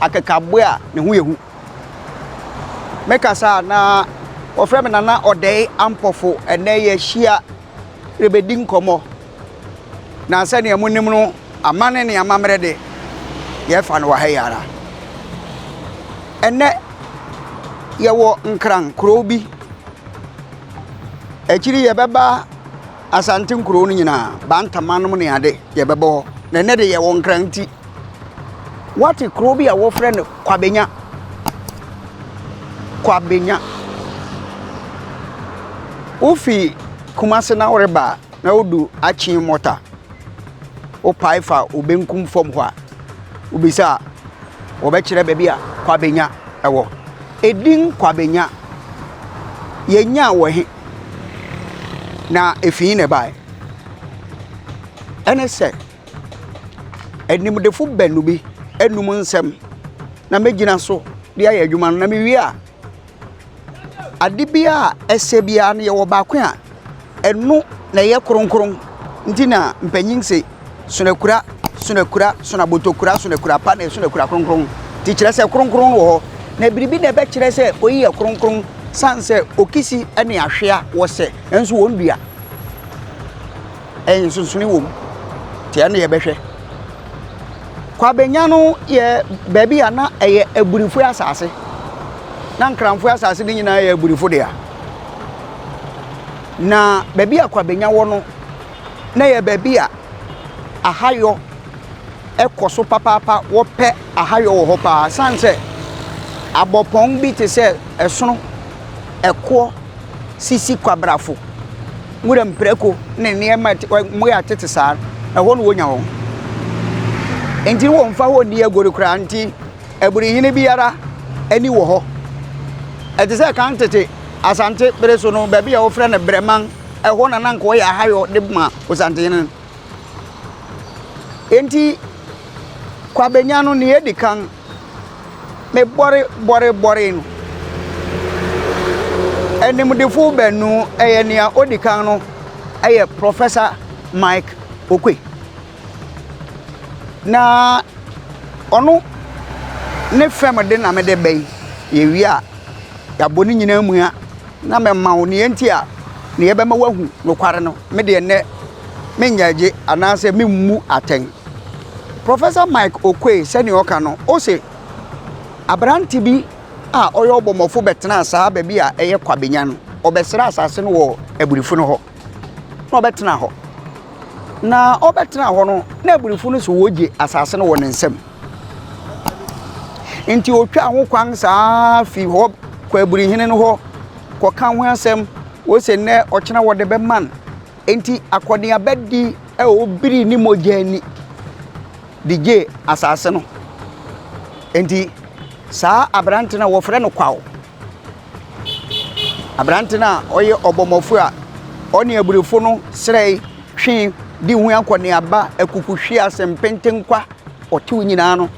akekaboa a ne ho yɛ hu. Mekasa a na wɔfrɛ me Nana Ɔdɛe Ampɔfo. Ɛnnɛ yɛahyia rebɛdi nkɔmmɔ. Na sɛdeɛ monim no, amane ne amammerɛ de, yɛfa no wɔ ha yi ara. Ɛnnɛ yɛwɔ Nkran, kuro bi. Akyiri yi yɛbɛba Asante nkurow no nyinaa, bantamannom ne ade, yɛbɛbɔ hɔ. Na ɛnnɛ de yɛwɔ Nkrante. Woate kurow bi a wɔfrɛ no Kwabenya? Kwabenya. Wofi Kumase na woreba a, na wodu Akyee Mɔta. Wopae fa wo benkum fam hɔ a, wobisa a, wɔbɛkyerɛ baabi a Kwabenya wɔ. Edin Kwabenya, yenyaa wɔ he? na efi he na ɛbaeɛ? Ɛne sɛ, animdefo baanu bi anum nsɛm na mɛgyina so de ayɛ adwuma no, na mewie a, ade biara a ɛsɛ biara no, yɛwɔ baako a ɛno na ɛyɛ kronkron, nti na mpanyin se. Sonakura, sonakura, sonabotokura, sonakura pa na sonakura kronkron. Ti kyerɛ sɛ kronkron wɔ hɔ. Na biribi na ɛbɛkyerɛ sɛ oyi yɛ kronkron san sɛ okisi ne ahwea wɔ sɛ nso wɔn dua. Ɛyɛ nsonsone wɔ mu. Te ɛno yɛbɛhwɛ. Kwabenya no yɛ baabi a na ɛyɛ aburifo asase. Na nkranfo asase no nyinaa yɛ aburifo dea. Na baabi a kwabenya wɔ no na ɛyɛ baabi a ahayɔ kɔ so papaapa, wɔpɛ ahayɔ wɔ hɔ paa. Ɛsiane sɛ abɔpɔn bi te sɛ ɛsono, ɛkoɔ, sisi kwabrafo, nwura mprako ne nneɛma a ɛte- wɔ- mmoa a ɛtete saa, ɛhɔ na wɔnya wɔn. Enti wɔmfa hɔ nni agoru koraa nti, aburihene biara ani wɔ hɔ. Ɛte sɛ kan tete Asante bere so no, baabi a wɔfrɛ no Brɛman Ɛhɔ na na anka ɔyɛ ahayɔ de ma Osantehene no. Enti Kwabenya no nea edi kan, mebɔre bɔre bɔree no. Animdefo baanu, ɛyɛ nea odi kan no yɛ Professor Mike Oquaye. Na ɔno ne fɛm de na mede bɛn, yɛwie a yɛabɔ ne nyinaa mua na mɛma wo deɛ nti a deɛ ɛbɛma woahu nokware no. Me deɛ nnɛ mennyɛɛgye anaasɛ memmu atɛn. Professor Mike Oquaye sɛdeɛ ɔka no, ose aberante bi a ɔyɛ ɔbɔmmɔfo bɛtenaa saa baabi a ɛyɛ Kwabenya no, ɔbɛsrɛɛ asase no wɔ Abirifo no hɔ. na ɔbɛtena hɔ. Na ɔbɛtena hɔ no, na abirifo no so wɔgye asase no wɔ ne nsam. Nti ɔtwaa ho kwan saa fi hɔ kɔ abirihene no hɔ kɔka ho asɛm wɔsɛ nnɛ ɔkyena wɔde bɛma no. Nti akɔneabadi a ɔbiri ne mogya ani de gyee asase no. Nti saa aberante no a wɔfrɛ no Kwao Aberante no a ɔyɛ ɔbɔmmɔfo a ɔne abirifo no srɛe, twe de hu akɔneaba, akukuhweɛ, asɛmpɛnkwa, ɔtew nyinaa no,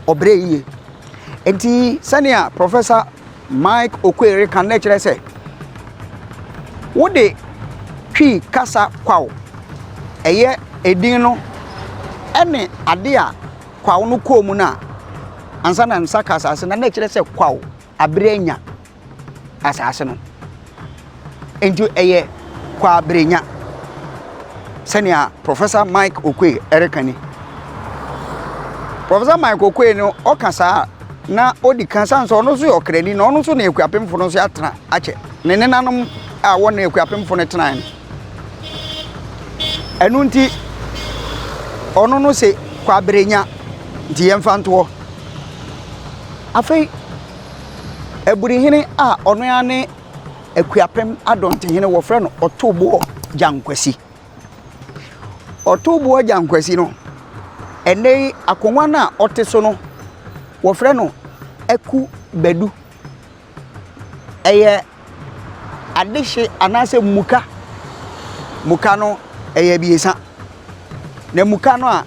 ɔbrɛ yie. Enti sɛnea Professor Mike Okoye reka no kyerɛ sɛ, wode Twi kasa kwaw, ɛyɛ edin no, ɛne ade a kwaw no kɔɔ mu no a, ansa na nsa ka asase no, na ɛkyerɛ sɛ kwaw abere anya asase no. Enti ɛyɛ kwaw abere nya. Sɛnea Professor Mike Okoye ɛreka ni. Professor Mike Okoye no ɔka saa na ɔdi kan san sɛ ɔno nso yɛ ɔkrani na ɔno nso na akuapemfo no nso atena akyɛ. Ne nenanom a wɔne akuapemfo no tenae no. Ɛno nti, ɔno no se kwabere nya nti yɛmfa nto hɔ. Afei Aburihene a ɔno ara ne Akuapem Adɔntehene wɔfrɛ no Ɔtoboɔ Gyankwasi. Ɔtoboɔ Gyankwasi no, ɛnnɛ yi akonnwa no a ɔte so no, wɔfrɛ no Aku Badu. Ɛyɛ adehye anaasɛ muka. Muka no ɛyɛ abiɛsa. Na muka no a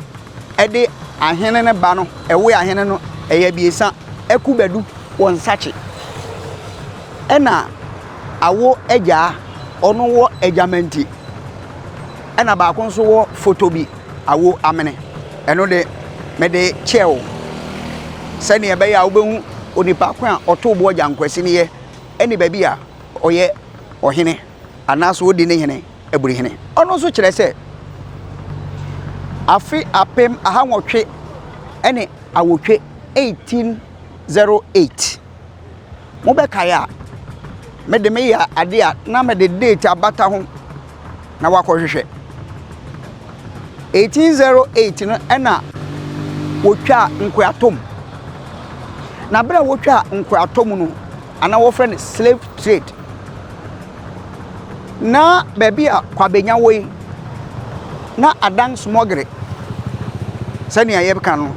ɛde ahene no ba no, ɛwe ahene no ɛyɛ abiɛsa. Akubadu wɔ nsakye. Ɛna awo agyaa, ɔno wɔ agyamanti. Ɛna baako nso wɔ fotobi, awo amene. Ɛno de, mede kyɛɛ wo sɛnea ɛbɛyɛ a wobɛhu onipa ko a ɔtow bo agyankwasi no yɛ ne baabi a ɔyɛ ɔhene anaasɛ odi ne hene aburi hene. Ɔno nso kyerɛ sɛ afe apem ahanwɔtwe ne awotwe 1808. Mobɛkae a, me de meyɛ adeɛ a na mede date abata ho na wakɔhwehwɛ. 1808 no ɛna wɔtwaa nkoratom. Na berɛ a wɔtwaa nkoratom no, anaa wɔfrɛ no slave trade, na baabi a Kwabenya wɔ yi, na adan smɔgere sɛnea yɛbɛka no.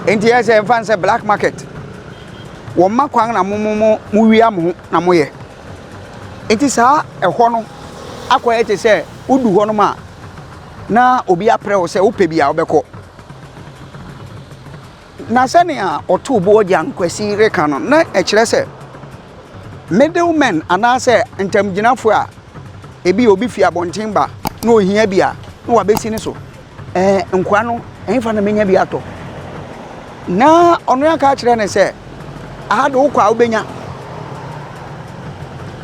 Nti ɛyɛ sɛ yɛmfa no sɛ black market. wɔma kwan na mo mo mo mowia mo ho na moyɛ nti saa ɛhɔ no akɔyɛ te sɛ wodu hɔ nom a na obi aprɛ wo sɛ wopɛ bi a wobɛkɔ na sɛnea ɔtoo boɔ gya nkwasi reka no na ɛkyerɛ sɛ middlemen anaasɛ ntamgyinafoɔ a ebi obi fi abɔnten ba na ohia bi a na wabɛsi ne so Ɛɛ, nkoa no, ɛhefa na mɛnya bi atɔ? Na ɔno aka akyerɛ no sɛ, Aha de wokɔ a wobɛnya.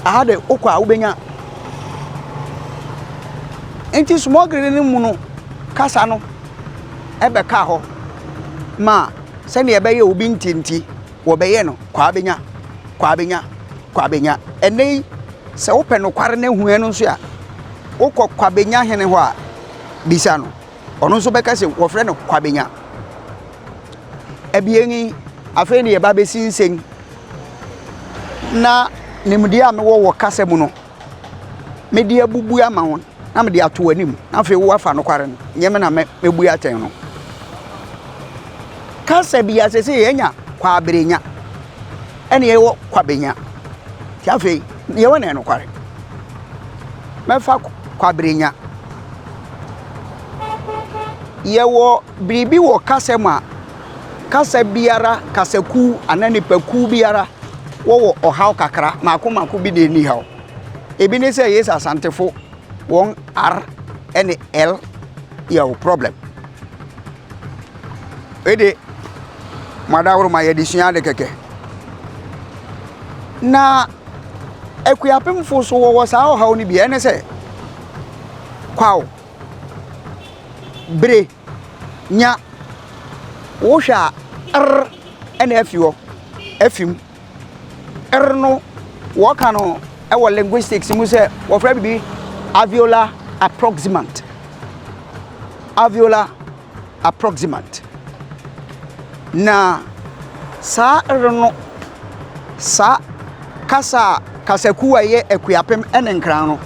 Aha de wokɔ a wobɛnya. Nti smɔgere no mu no kasa no ɛbɛka hɔ ma sɛdeɛ ɛbɛyɛ obi ntinti wɔbɛyɛ no kɔ a bɛnya kɔ a bɛnya kɔ a bɛnya ɛnɛ yi sɛ wopɛ nokware no ahua no nso a wokɔ kɔ a bɛnya hene hɔ a bisa no ɔno nso bɛka sɛ wɔfrɛ no kwabenya abien yi afei ne yɛba bɛsinsen na nimdeɛ a mewɔ wɔ kasa mu no mede abubu ama wɔn na mede ato anim na afei woafa nokware no nyɛ me na mɛbu atɛn no kasa bi asɛ sɛ yɛanya kwabrenya Ɛne yɛwɔ kwabenya nti afei yɛwɔ ne nokware mɛfa kwabrenya yɛwɔ biribi wɔ kasa mu a kasa biara kasakuw anaa nipakuw biara wɔwɔ ɔhaw kakra mako mako bi na ɛni haw ebi ne sɛ yesu asantefo wɔn r ɛne l yɛ problem Wei de, mo adaworoma yɛde sua ade kɛkɛ. Na Akuapemfo so wɔwɔ saa ɔhaw no bi ɛne sɛ kwaw bere nya wohwɛ a r ɛna afi hɔ afi mu. er no wɔka no wɔ linguistics mu sɛ wɔfrɛ biribi alveolar approximant alveolar approximant na saa er no saa kasa a kasakuo a ɛyɛ akuapem ne nkran no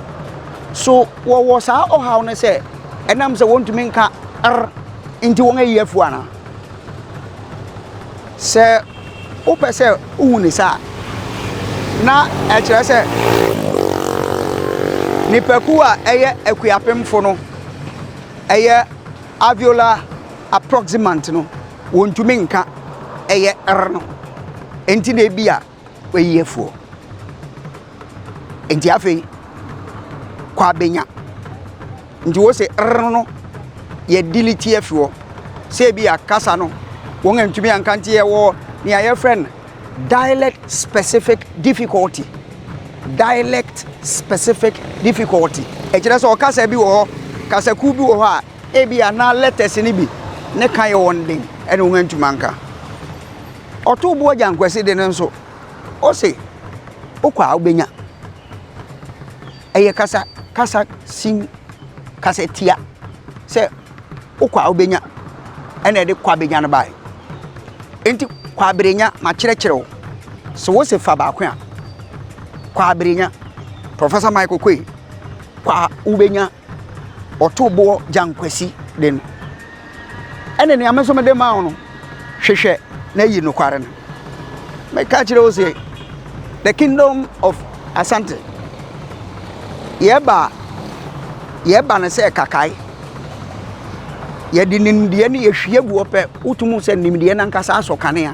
so wɔwɔ saa ɔhaw no sɛ ɛnam sɛ wɔntumi nka er nti wɔn ayi afuo anaa Sɛ wopɛ sɛ wohu ne saa a, na ɛkyerɛ sɛ nnipakuw a ɛyɛ akuapemfo no, ɛyɛ alveolar approximant no, wontumi nka ɛyɛ rr no. Enti na ebia Oyi yɛ fuo. Nti afei kɔ abɛnya. Nti wo se rrr no yɛ delete yɛ fiwɔ. Sɛ bi a kasa no wɔn antumi anka nti yɛwɔ nea yɛfrɛ no dialect specific difficulty. Dialect specific difficulty. Ɛkyerɛ sɛ ɔkasa bi wɔ hɔ, kasakuo bi wɔ hɔ a ebi a na letters no bi ne ka yɛ wɔn den ɛna wɔn antumi anka. Ɔtoo bo agya Nkwasi de no nso, ose wokɔ a wobɛnya. Ɛyɛ kasa kasa sin kasa tia sɛ wokɔ a wobɛnya ɛna ɛde kɔ abɛnya no bae. Enti kɔ aberenya makyerɛkyerɛ wo. So wose fa baako a, kɔ aberenya. Professor Michael Koi, kɔ a wobɛnya. ɔtoo boɔ gyankwasi de no ɛne nea me nso mede maa wo no hwehwɛ na yi nokware no meka kyerɛ wo sɛ the kingdom of asante yɛba yɛba no sɛ kakae yɛde nimdeɛ no yɛhwie guɔ pɛ wotum sɛ nimdeɛ no ankasa asɔ kanea